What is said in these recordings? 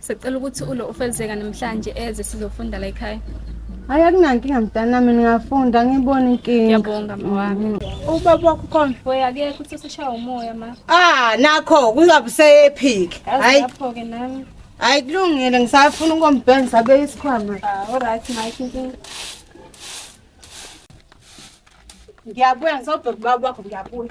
Sicela ukuthi ulo ufezeka namhlanje eze sizofunda la ekhaya. Hayi akunankinga mntanami ningafunda ngibona inkinga. Ngiyabonga mawami. Ubaba wakho khona. Boy akekho uthi usishaya umoya ma. Ah nakho kungabe useyephik. Hayi. Lapho ke nami. Hayi kulungile ngisafuna ukombheni sabe isikhwama. Ah alright ma inkinga. Ngiyabuya ngisobheka ubaba wakho ngiyabuya.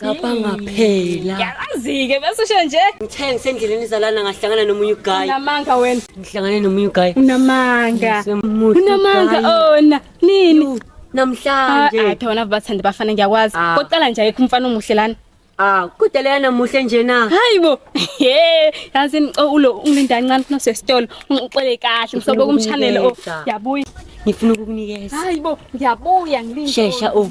Cabanga phela. Yazi-ke bese usho nje. Ngithe ngisendleleni izalana ngahlangana nomunye uguy. Unamanga wena. Ngihlangane nomunye uguy. Unamanga. Unamanga ona. Nini? Namhlanje. Ah, athi wona bathanda bafana ngiyakwazi. Ah. Koqala nje ayikho umfana omuhle lana. Ah, kude leyana muhle nje na. Hayibo. Hey, yazi ngicela ulo unginda kancane funa sesitolo. Ungixele kahle msobo kumshanele o. Yabuya. Ngifuna ukukunikeza. Hayibo, ngiyabuya ngilinde. Shesha o. Oh.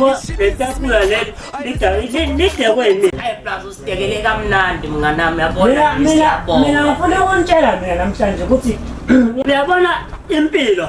yabo letafula leli lidekwe yini hayi plus usidekele kamnandi mnganami yabona mina ngifuna ukuntshela mina namhlanje ukuthi uyabona impilo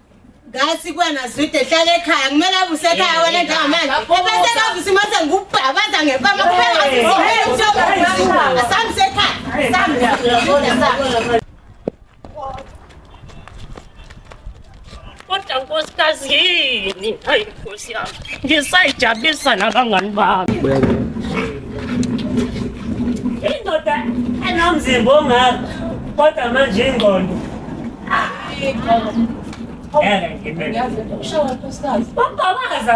ngathi kwena zwide hlala ekhaya kumele avuse ekhaya wena njengamanje ebese kavuse imase ngikubhabaza ngempama kubeasamse ekhaya kodwa nkosikazi yini Nkosi yami, ngisayijabulisa nabangani bami. Indoda enomzimba ongaka kodwa manje ingqondo. Ngeke ngibeke. Bambabaza.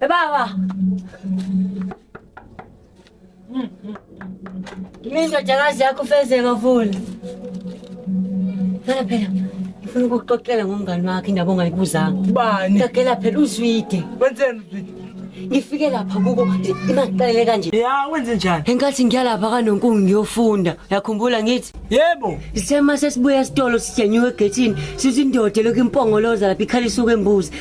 Baba. Mimi ndo jagazi yako feze mavuli. Phela phela. Ngifuna ukuxoxela ngomngani wakhe indaba ongayibuzanga. Bani? Ngagela phela uzwide. Wenzeni uzwide? Ngifike lapha kuko imaqalele kanje. Ya wenze njani? Enkathi ngiya lapha kanonkungu ngiyofunda. Yakhumbula ngithi? Yebo. Isema sesibuya esitolo sijenyuke egethini. Sizindoda lokhu impongoloza lapha ikhala isuke embuzi.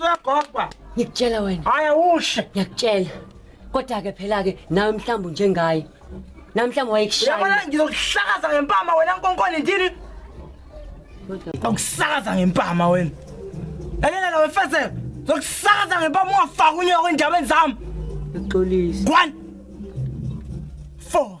Uyagoba. Ngikutshela wena. Hayi awushe. Ngiyakutshela. Kodwa ke phela ke nawe mhlawumbe njengaye. Namhlanje wayekushaya. Yabona ngizokuhlakaza ngempama wena nkonkoni ndini. Ngizokusakaza ngempama wena. Elela nawe mfezela. Ngizokusakaza ngempama ungafaki unyoko endabeni zami. Uxolisa. Kwani. Four.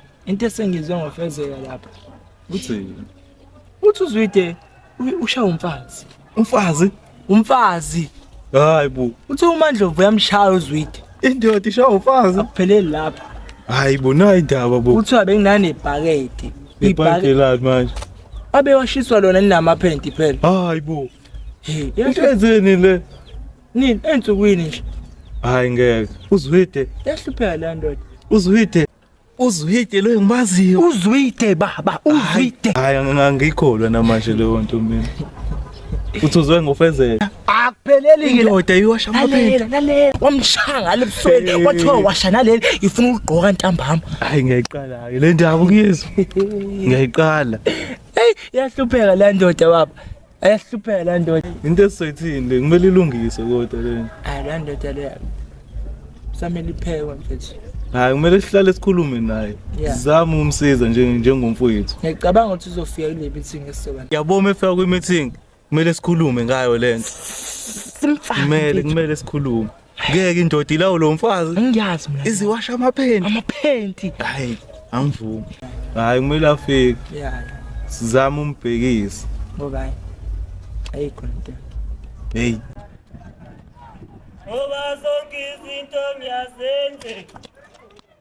into esengizwe ngofezeka lapha uthi uthi uzwide ushaya umfazi umfazi umfazi hayi bo uthi umandlovu uyamshaya uzwide indoda ishaya umfazi akupheleli lapha hayi bo nayi indaba bo uthi abenginanebhakede ibhakede lapha manje abe washiswa lona ninamaphenti phela hayi bo hey yenzeni le nini ensukwini nje hayi ngeke uzwide yahlupheka le ndoda uzwide Uzwide lo engimaziyo. Uzwide baba, uzwide. Hayi angangikholwa namanje leyo nto mina. Uthuzwe ngofezela. Akupheleli ke indoda iwasha amaphela. Lalela wamshaya ngale busweni wathiwa washa naleli ifuna ukugqoka ntambama. Hayi ngiyayiqala ke le ndaba kuyezwa. Ngiyayiqala. Hey yahlupheka le ndoda baba. Ayahlupheka la ndoda. Into esizoyithini le kumele ilungiswe kodwa le. Hayi la ndoda le. Samele iphekwe mfethu. Hayi kumele sihlale sikhulume naye. Sizame umsiza nje njengomfowethu. Ngiyacabanga ukuthi uzofika kule meeting esizoba. Yaboma efika kwi meeting kumele sikhulume ngayo lento. Simfake. Kumele kumele sikhulume. ngeke indoda ilawo lo mfazi ngiyazi mina iziwasha amaphenti amaphenti hayi angivumi hayi kumele afike yeah sizama umbhekisa ngoba ayikho into hey ngoba sonke izinto ngiyazenze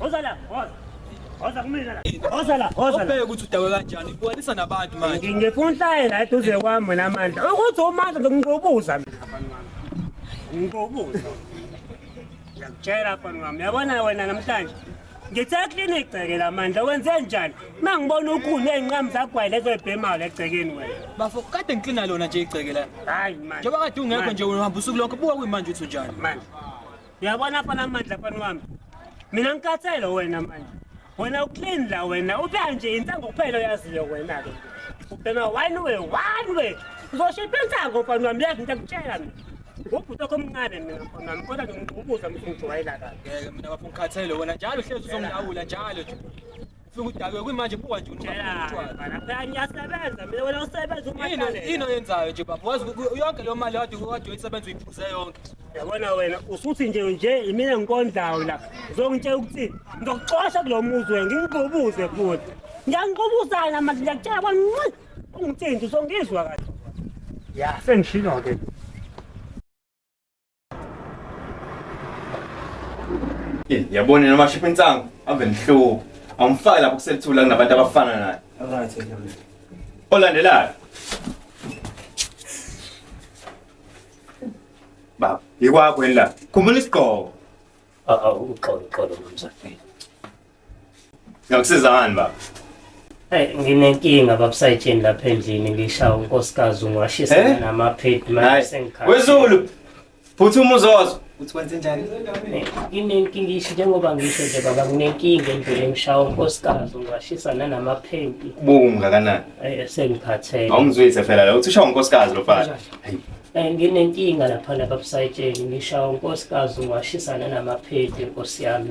Woza la, woza. Woza kumina la. Woza la, woza la. Ubheke ukuthi udawe kanjani. Ubuhanisa nabantu manje. Ngifuna uhlaye la eduze kwami mina manje. Ukuthi umandla ngikuqubuza mina abantu bami. Ngikuqubuza. Ngiyakutshela abantu bami. Yabona wena namhlanje. Ngithe clinic gceke la manje. Wenze njani? Mangibona ukhulu ezinqamu zagwayi lezo ebhemayo legcekeni wena. Bafo kade ngiklina lona nje igceke la. Hayi manje. Njengoba kade ungekho nje uhamba usuku lonke buka kuyimanje uthi unjani. Manje. uyabona afana amandla afana wami mina ngikhathele wena manje wena uclean la wena ubuya nje insango kuphela oyaziyo wena-ke ubhema one way one way uzoshipha insango mfana wami yazi into akutshela mina ngubhuti okho omncane mina mfana wami kodwa ngibuza mthi ngijwayela kabi mina bafo ngikhathele wena njalo uhlezi uzongilawula njalo nje Ufike udakwe kwimanje buka nje ukuthi utshwala. Phela ngiyasebenza mina wena usebenza uma Yini kanele. yini oyenzayo nje baba? Wazi ku- yonke leyo mali wade wade uyisebenza uyiphuze yonke. Yabona wena usuthi nje nje imina ngikondlayo la. Uzongitshela ukuthi ngizokuxosha kulo muzi wena ngikububuze futhi. Ngiyangiqubuzana manje ngiyakutshela kwancane. Ungithinta uzongizwa kahle. Ya sengishilo ke. Eh, yabona noma shipha insangu ave nihluka awumfaki lapho kuselithula kunabantu abafana naye Alright, ngiyabona. olandelayo baba yikwakho yini la khumbula isigqoko Awu uxolo uxolo mnumzane. Ngiyakusiza ngani baba? Hey, nginenkinga babusayitsheni lapha endlini ngishawa unkosikazi ungwashisa Eh? namaphedi manje Hayi. sengikhala. Wezulu. Phuthuma uzozo. Uthi wenze njani? Eh, Nginenkinga ngisho njengoba ngisho nje baba nginenkinga endlini ngishawa unkosikazi ungwashisa nanamaphedi. Ubuku mngakanani? Eh, sengiphatheke. Awumzwise phela la. Uthi ushawa unkosikazi lo mfana. Hayi. Eh, nginenkinga lapha nababusayitsheni ngishawa unkosikazi ungwashisa nanamaphedi nkosi yami.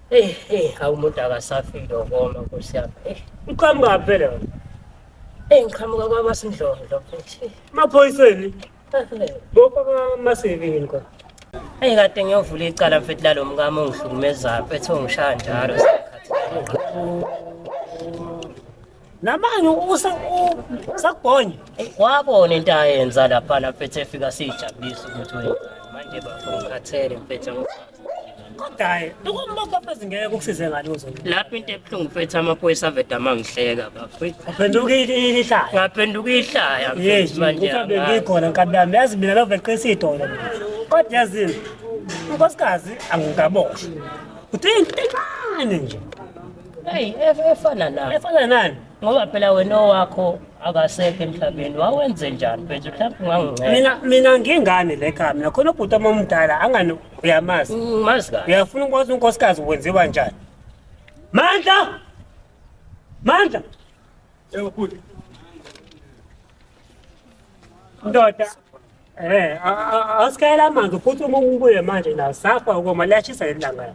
Hey, hey, hawu umuntu akasafile ukoma nkosi yami. Hey, uqhamuka phela. Hey, ngiqhamuka kwabasindlondlo futhi. Maphoyiseni. Bopha masivini nkosi. Hey, kade ngiyovula icala mfethu lalomkami ongihlukumezayo, mfethu ongishaya njalo. namanje usakubhonya wabona into ayenza laphana mfethu efika siyijabulisa ukuthi wenzani manje bafo ngikhathele mfethu kodwa-ke lokumapapezi ngeke kukusize ngani uzona lapho into ebuhlungu mfethu amaphoyisa aveda amangihleka bafo aphenduka ihlaya ngaphenduka ihlaya mfethu manje mhlawumbe ngikhona nkabi yami yazi mina loveqisa idolo kodwa yazini unkosikazi angikaboshwa uthi into encane nje Hey, ef- efana nani? Efana nani? Ngoba phela wena owakho akasekho emhlabeni. Wawenze njani mfethu? Mhlawumbe unganginceda. Mina mina ngingane le khaya mina khona ubhuti wami omdala angani uyamazi. Ngimazi kahle. Uyafuna ukwazi unkosikazi wenziwa njani? Mandla! Mandla! Yebo bhuti. Ndoda. Eh, a- a- awusikayela amanzi futhi uma ubuye manje nawo safa ukoma liyashisa leli langa.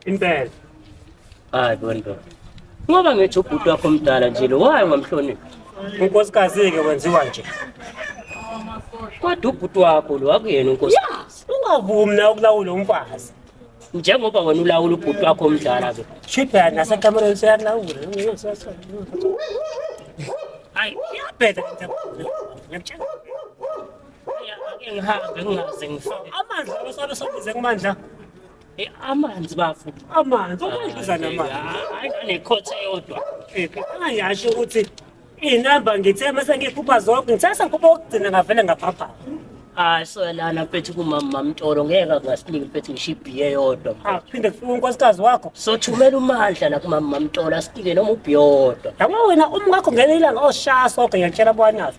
Impela. Hayi bonto. Ngoba ngithi ubhuti wakho omdala nje lo waye ngamhloniphi. Unkosikazi ke wenziwa nje. Kodwa ubhuti wakho lo akuyena unkosi. Ungavumi na ukulawula umfazi. Njengoba wena ulawula ubhuti wakho omdala ke. Shipha nasekamereni seyalawula. Hayi, iyabheda into ekhona. Ngiyakutshela. Ake ngihambe ngingaze ngifike. Amandla osabe sobize kumandla. Eh, amanzi bafo amanzi okudluza namanzi hayi nekhotha eyodwa angiyasho ukuthi iy'namba ngithe mase ngiphupha zonke ngithe sengiphupha okugcina ngavele ngaphapha hayi soyalana mfethu kumama mamtolo ngeke kungasiniki mfethu ngisho ibhiye eyodwa phinde kufika unkosikazi wakho sothumela umandla la kumama mamtolo asinike noma ubhiye owodwa yabo wena umkakho ngenye ilanga oshaya soke ngiyakutshela bwanazo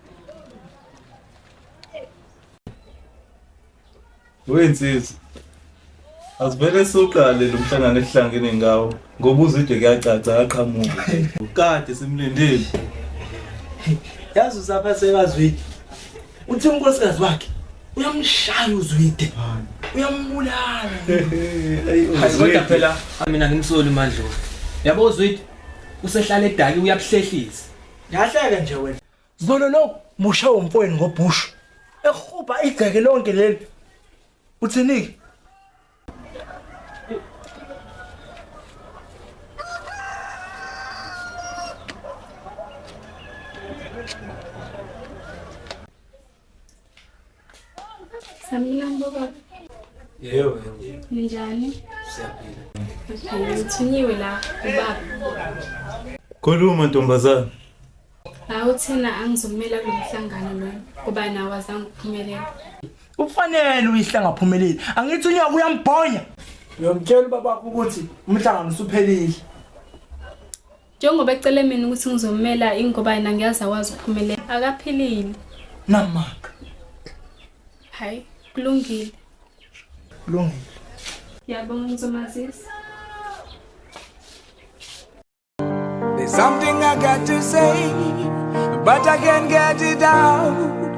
Wensizwa Asivele siqale lo mhlangano esihlangene ngawo ngoba uzide kuyacaca aqhamuka. Kade simlindile. Yazi usapha sekazwide. Uthi unkosikazi wakhe uyamshaya uzwide. Uyambulala. Hayi kodwa phela mina ngimsoli mandlovu. Yabo uzwide usehlale edaki uyabuhlehlisa. Yahleke nje wena. Zolo lo musha umfweni ngobhushu. Ehubha igceke lonke leli. Uthini? Khuluma ntombazana. Hawu thina angizomela kulo mhlangano lo ngoba nawe azange uphumelele. Ufanele uyihle ngaphumeleli. Angithi unyaka uyambhonya. Uyomtshela ubabakho ukuthi umhlangano usuphelile. njengoba ecele mina ukuthi ngizomela ingoba yena ngiyazi akwazi ukuphumelela akaphilile namaka hayi kulungile kulungile ngiyabonga ngizomazisa There's something I got to say, but I can't get it out.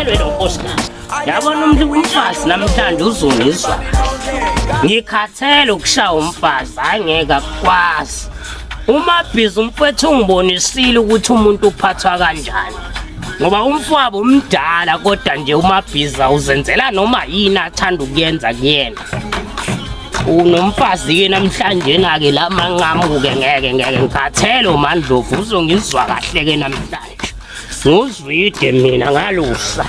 Elwe lo nkosikazi. Yabona umuntu umfazi namhlanje uzungizwa. Ngikhathele ukushaya umfazi, hayi ngeke akwazi. Uma bhizi umfethu ungibonisile ukuthi umuntu uphathwa kanjani. Ngoba umfwabo umdala kodwa nje umabhiza uzenzela noma yini athanda ukuyenza kuyena. unomfazi-ke namhlanje na-ke la manqamuke ngeke ngeke ngikhathele umandlovu uzongizwa kahle-ke namhlanje nguzwide mina ngalusa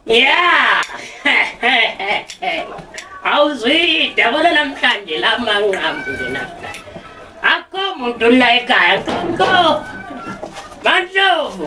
ya awuzwide yabona namhlanje la manqambu nje namhlanje akho muntu la ekhaya nkonko mandlovu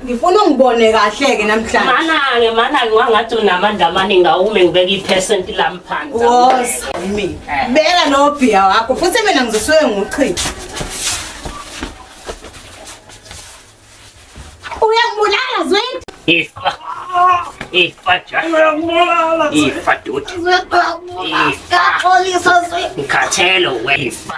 ngifuna ungibone kahle ke namhlanje manange manange wangathi unamandla amaningi awume ngibeka ipercent lami phansi woza yimi beka no bhiya wakho futhi mina ngizosuke nguchitha uyangibulala zwethu ifa ifa ja uyangibulala ifa doti ifa xolisa zwethu ngikhathele we ifa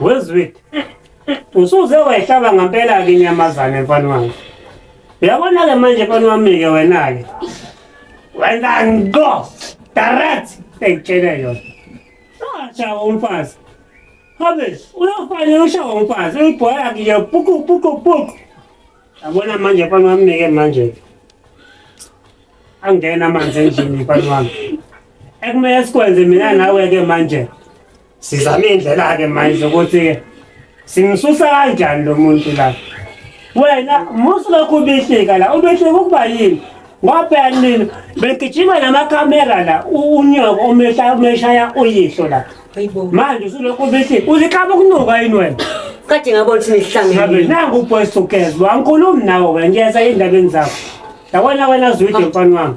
Wezwit. Usuze wayihlaba ngempela ke inyamazane mfana wami. Uyabona ke manje mfana wami ke wena ke. Wena ngo. Direct ekutshela yona. Acha umfazi. Habe, uyofanele ushawa umfazi, uyibhoya ke puku puku puku. Yabona manje mfana wami ke manje. Angena manje endlini mfana wami. Ekumele sikwenze mina nawe ke manje. Sizame indlela ke manje ukuthi simsusa kanjani lo muntu la. Wena musu lokhu ubihlika la, ubihlika ukuba yini? Ngoba nini begijima namakamera la unyoko umehla umeshaya uyihlo la. Manje usulokhu ubihlika, uzikhaba ukunuka yini wena? Kade ngabona ukuthi nihlangene. Nangu uBoys Together, angikhulumi nawe, ngiyeza endabeni zakho. Yabona wena zwide mfana wami.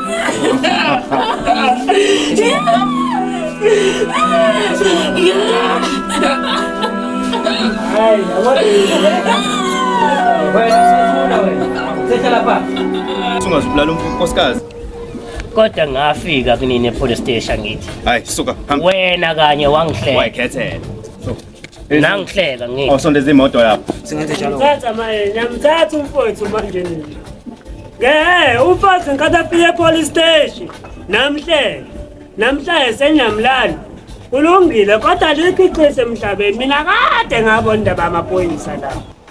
Sungazibulala unkosikazi. Kodwa ngafika kunini epolice station ngithi. Hayi suka hamba. Wena kanye wangihlela. Wayikhethela. Nangihleka ngeke. Awusondeza imoto lapho. Singenze njalo. Thatha manje, nyamthatha umfowethu manje nini. Ngeke umfowethu ngikade afike police station. Namhlanje. Namhlanje senyamlala. Kulungile kodwa likhiqise emhlabeni. Mina kade ngabona indaba yamaphoyisa lapho.